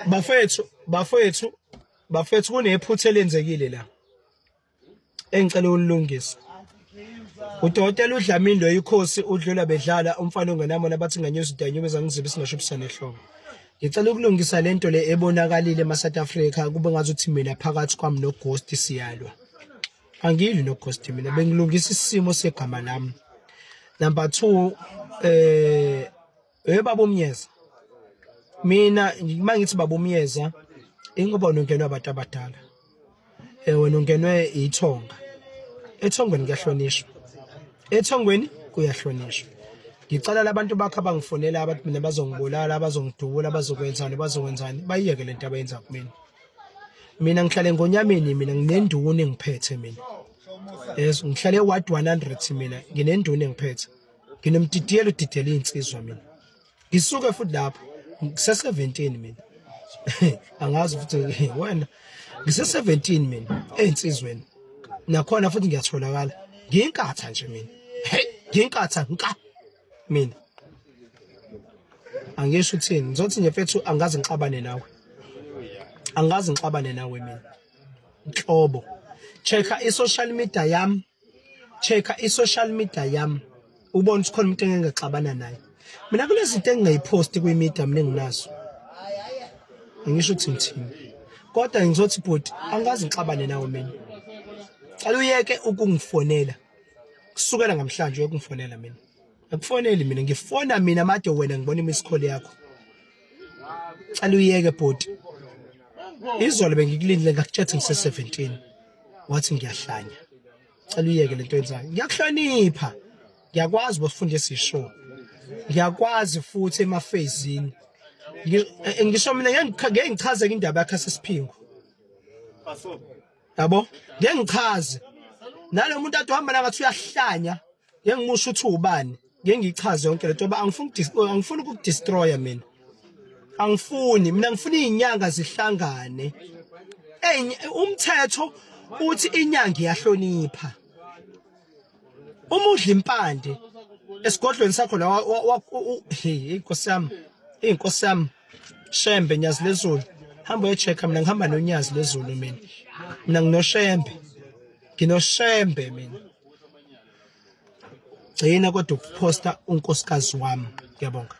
bafethu bafethu bafethu kunephutha elenzekile la engicela ulungisa udokotela udlamini lo ikhosi udlula bedlala umfana ongenamona bathi nganyoza udanyube zangizibe singasho ubusane ehloko ngicela ukulungisa lento le ebonakalile ema South Africa kube ngathi uthi mina phakathi kwami no ghost siyalwa angili no ghost mina bengilungisa isimo segama lami number 2 eh Hey babo Myeza. Mina mangithi babo Myeza ingoba unongenwe abantu abadala. Eh wena ungenwe ithonga. Ethongweni kuyahlonishwa. Ethongweni kuyahlonishwa. Ngicela labantu bakho abangifonela abathi mina bazongibulala, bazongidubula, bazokwenzani, bazokwenzani. Bayiyeke lento abayenza kumina. Mina ngihlale ngonyameni mina nginenduni ngiphethe mina. Yes, ngihlale ward 100 mina nginenduni ngiphethe. nginomtitiyelo udidela iy'nsizwa mina ngisuke futhi lapho ngise-seventeen mina angazi futhi wena ngise-seventeen mina ey'nsizweni nakhona futhi ngiyatholakala ngiyinkatha nje mina hey ngiyinkatha nka mina angisho ukuthini ngizothi nje fethu angazi ngixabane nawe angazi ngixabane nawe mina nhlobo check i-social media yami check i social media yami ubona ukuthi khona umuntu engengexabana naye mina kunezinto engingayiphosti kwi media mina enginazo ngisho ukuthi ngithini kodwa ngizothi bhuti angikazi ngixabane nawe mina cela uyeke ukungifonela kusukela ngamhlanje uyokungifonela mina akufoneli mina ngifona mina made wena ngibona imisikhole yakho cela uyeke bhuti izolo bengikulindile ngakutshela ngise 17 wathi ngiyahlanya cela uyeke lento yenzayo ngiyakuhlonipha ngiyakwazi bosifunda esisho ngiyakwazi futhi emafezini eh, ngisho mina ngeke ngichaze indaba yakhe sesiphingo yabo ngeke ngichaze nalomuntu athi uhamba la ngathi uyahlanya ngeke ngimusho ukuthi ubani ngeke ngichaze yonke lento ngoba angifuni angifuni ukudestroya mina angifuni mina ngifuna izinyanga zihlangane umthetho uthi inyanga iyahlonipha umudla impande esigodlweni sakho la hey inkosi yami inkosi yami shembe nyazi lezulu hamba uyochecka mina ngihamba nonyazi lezulu mina mina nginoshembe nginoshembe mina gcina kodwa ukuphosta unkosikazi wami ngiyabonga